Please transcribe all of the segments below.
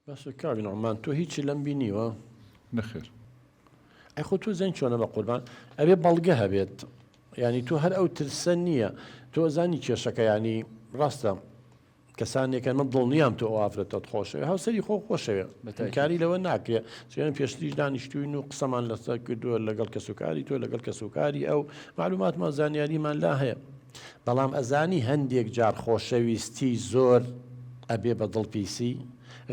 باشە کاک نوعمان تۆ هیچی لەم بینیوە؟ نەخێر. ئەی خۆ تۆ زەنگ چۆنە بە قوربان ئەبێ بەڵگە هەبێت ینی تۆ هەر ئەو ترسە نییە تۆ زانی کێشەکە ینی ڕاستە کەسانێکە من دڵنیام تۆ ئافرەتت خۆشەوێ هاوسری خۆ خۆشەوێ بەتەکاری لەوە ناکرێ چێن پێشتریش دانیشتوین و قسەمان لەسەر کردووە لەگەڵ کەسوکاری تۆ لەگەڵ کەسوکاری ئەو معلوماتمان زانیاریمان لا هەیە بەڵام ئەزانی هەندێک جار خۆشەویستی زۆر ئەبێ بە دڵ پیسی،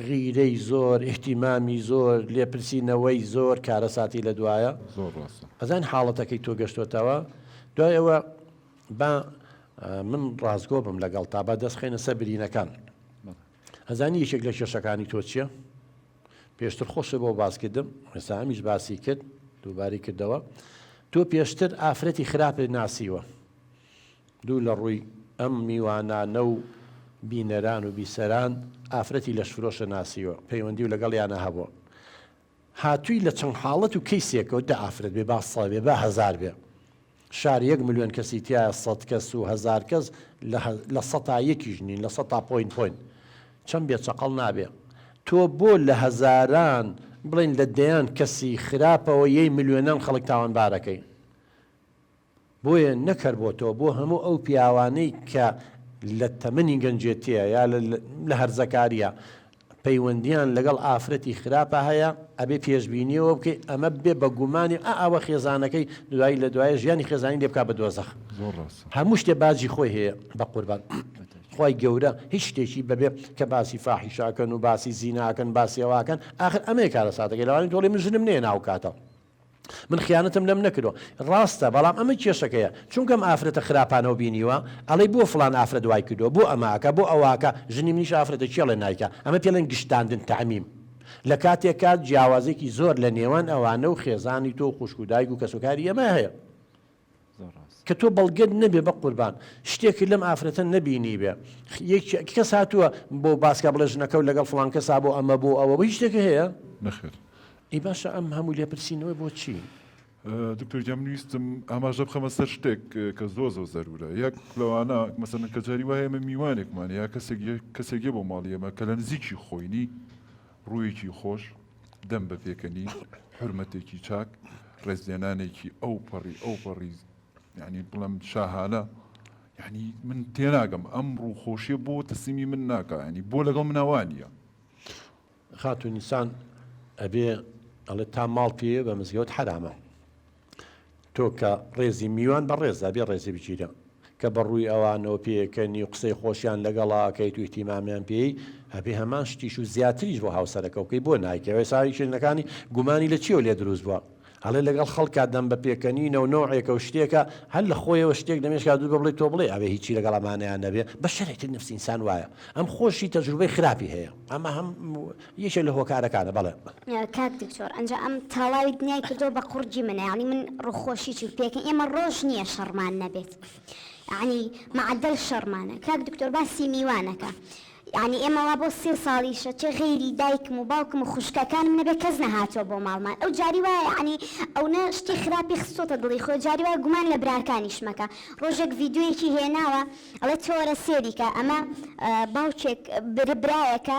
غیرەی زۆر، ئیهتیمامی زۆر، لێپرسینەوەی زۆر کارەساتی لە دوایە. زۆر ڕاستە. ئەزان حاڵەتەکەی تۆ گەشتۆتەوە؟ دوای ئەوە با من ڕاستگۆ بم لەگەڵتا با دەست خەینە سەر برینەکان. ئەزانی یەکێک لە کێشەکانی تۆ چیە؟ پێشتر خۆشت بۆ باس کردم ئێستا ئەمیش باسی کرد دووباری کردەوە تۆ پێشتر ئافرەتی خراپت ناسیوە دوو لە ڕووی ئەم میوانانە و بینەران و بیسەران ئافرەتی لەش فرۆشە ناسیوە پەیوەندی و لەگەڵیانە هەبووە هاتووی لە چەند حاڵەت و کەیسێکەوە دە ئافرەت بێ با ساوێ بە هەزار بێ شار یەک ملیۆن کەسی تیایە سەد کەس و هەزار کەس لە لە سەتا یەکیش نین لە سەتا پۆین پۆین چەند بێ چەقەڵ نابێ تۆ بۆ لە هەزاران بڵێن لە دەیان کەسی خراپەوە یەی ملیۆنان خەڵک تاوانبارەکەی بۆیە نەک هەر بۆ تۆ بۆ هەموو ئەو پیاوانەی کە لە تەمەنی گەنجێتیە یا لە هەرزەکاریە پەیوەندیان لەگەڵ ئافرەتی خراپە هەیە ئەبێ پێشبینیەوە بکەی ئەمە بێ بە گومانی ئا ئەوە خێزانەکەی دوایی لە دوایە ژیانی خێزانی لێ بکا بە دۆزەخ زۆر ڕاستە هەموو شتێ باجی خۆی هەیە بە قوربان خوای گەورە هیچ شتێکی بەبێ کە باسی فاحیشاکەن و باسی زیناکەن باسی ئەواکەن ئاخر ئەمەیە کارەساتەکەی لەوانی دۆڵی من ژنم نێ ناو کاتەوە. من خیانەتم لەم نەکردوە. ڕاستە بەڵام ئەمە کێشەکەیە چونکە ئەم ئافرەتە خراپانەو بینیوە ئەڵێی بۆ فڵان ئافرەت وای کردوە بۆ ئەمە ئەکا بۆ ئەوە ئەکا ژنی منیش ئافرەتە کێڵێ نایکا ئەمە پێڵێن گشتاندن تعمیم لە کاتێکا جیاوازێکی زۆر لە نێوان ئەوانە و خێزانی تۆ و خوشک و دایک و کەسوکاری ئێمە هەیە زۆر ڕاست. کە تۆ بەڵگەت نەبێ بەقوربان شتێکت لەم ئافرەتە نەبینیبێ یەکێ کەس هاتووە بۆ باسکە بڵێ ژنەکەو لەگەڵ فڵان کەسا بۆ ئەمە بۆ ئەوە بۆ هیچ شتێکی هەیە؟ نەخێر. ئەی باشە ئەم هەموو لێپرسینەوە بۆ چی؟ دکتۆر گیان من ویستم ئاماژە بخەمە سەر شتێک کە زۆر زۆر زەرورە یەک لەوانە مەسەلەن کە جاری وایە ئێمە میوانێکمان یا کەسێک کەسێک یە بۆ ماڵی ئێمە کە لە نزیکی خۆینی ڕوویەکی خۆش، دەم بە پێکەنین، حورمەتێکی چاک، ڕێزلێنانێکی ئەوپەڕی ئەوپەڕی یانی بڵێم شاهانە، یانی من تێناگەم ئەم ڕووخۆشیە بۆ تەسلیمی من ناکا ینی بۆ لەگەڵ منا وا نییە. خاتوو نیسان ئەبێ ئەڵێ تا ماڵ پێیە بە مزگەوت حەرامە. تۆ کە ڕێزی میوان بە ڕێزا بێ ڕێزی بگیرە کە بە ڕووی ئەوانەوە پێکەنی و قسەی خۆشیان لەگەڵا ئەکەیت و ئیتیمامیان پێی هەبێ هەمان شتیش و زیاتریش بۆ هاوسەرەکەو کەی بۆ نایکەی ئەوە ئێستا کێشەکانی گومانی لە چیەوە لێ دروست بووە ئەڵێ لەگەڵ خەڵکا دەم بە پێکەنینەو نەوعێکە و شتێکە هەر لە خۆیەوە شتێک دەمێشکا دروست بێ بڵێ تۆ بڵێ ئەبێ هیچی لەگەڵ ئەمانەیا نەبێ بەشەرێتی نەفسی ئینسان وایە ئەم خۆشی تەجروبەی خراپی هەیە ئەمە هەم یەکێک لە هۆکارەکانە بەڵێ. کاک دکتۆر ئەنجا ئەم تاڵاوی دنیای کردوە بە قوڕگی من یانی من ڕوخۆشی چوو پێکەن ئێمە ڕۆژ نیە شەڕمان نەبێت یانی معەدەل شەڕمانە کاک دکتۆر باسی میوانەکە یانی ئێمە وا بۆ سێ ساڵیشە چێ غەیری دایکم و باوکم و خوشکەکانم نەبێ کەس نەهاتوە بۆ ماڵمان ئەو جاری وایە یانی ئەونە شتی خراپی خستۆتە دڵی خۆی جاری وایە گومان لە براکانیش مەکە ڕۆژێک ڤیدیۆیەکی هێناوە ئەڵێ تۆ وەرە سێری کە ئەمە باوکێک برایەکە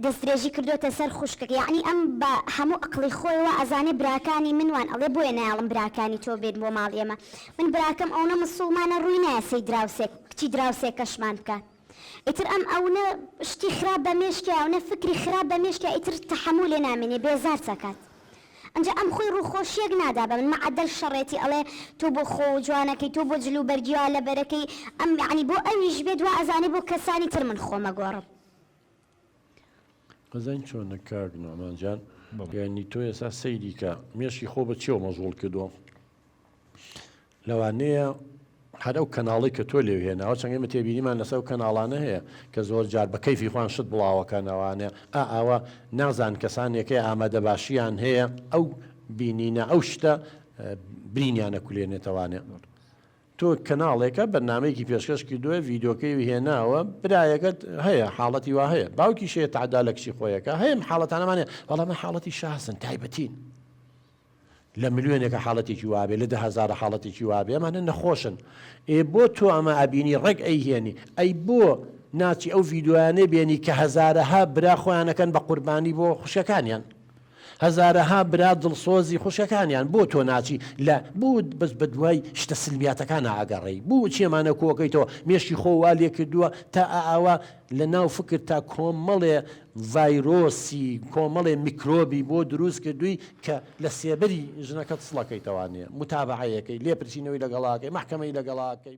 دەستدرێژی کردۆتە سەر خوشکەکەی یەعنی ئەم بە هەموو ئەقڵی خۆیەوە ئەزانێ براکانی من وان ئەڵێ بۆیە نایەڵم براکانی تۆ بێن بۆ ماڵی ئێمە من براکەم ئەونە مسوڵمانە ڕووی نایە سەی دراوسێک کچی دراوسێکەشمان بکات ئیتر ئەم ئەونە شتی خراپ بە مێشکیا ئەونە فکری خراپ بە مێشکیا ئیتر تەحەموولێ نامێنێ بێزارت ئەکات ئەنجا ئەم خۆی ڕووخۆشیەک نادا بە من مەعەدەل شەڕێتی ئەڵێ تۆ بۆ خۆ و جوانەکەی تۆ بۆ جل و بەرگی وا لەبەرەکەی ئەم یەعنی بۆ ئەویش بێت وا ئەزانێ بۆ کەسانی تر من خۆمەگۆڕم. ئەزانی چۆنە کاک نۆمان جان یانی تۆ ئێسا سەیری کە مێشی خۆ بە چێوە مەژغوڵ کردووە لەوانەیە هەر ئەو کەناڵی کە تۆ لێو هێناوە چەنگەی من تێبینیمان لەسەر و کەناڵانە هەیە کە زۆر جار بە کەیفی خوان شت بڵاوەکەنەوانێ ئا ئاوە نازان کەسانێکی ئامادە باشیان هەیە ئەو بینینە ئەو شتە برینیانە کولێنێتەوانێ تۆ کەناڵێکە بەرنامەیەکی پێشکەش کردوە ڤیدۆکەی هێناوە برایەکەت هەیە حاڵەتی وا هەیە باوکیش هەیە تەعدا لە کچی خۆی ئەکا هەیە ئەم حاڵەتانەمان هەیە بەڵام ئەمە حاڵەتی شازن تایبەتین لە ملیۆنێکە حاڵەتێکی وا بێ لە دە هەزارە حاڵەتێکی وا بێ ئەمانە نەخۆشن ئێ بۆ تۆ ئەمە ئەبینی ڕێک ئەیهێنی ئەی بۆ ناچی ئەو ڤیدۆیانەی بێنی کە هەزارەها برا خۆیانەکەن بە قوربانی بۆ خوشکەکانیان هەزارەها برا دڵسۆزی خوشکەکانیان بۆ تۆ ناچی لە بۆ بەس بە دوای شتە سلمیاتەکانا ئەگەڕێی بۆ چێمانە کۆکەیتەوە مێشکی خۆ وا لێ کردووە تا ئا ئاوا لە ناو فکر تا کۆمەڵێ ڤایرۆسی کۆمەڵێ میکرۆبی بۆ دروست کردووی کە لە سێبەری ژنەکەت سڵەکەیتەوانێ متابەعەیەکەی لێپرسینەوەی لەگەڵاکەی مەحکەمەی لەگەڵاکەی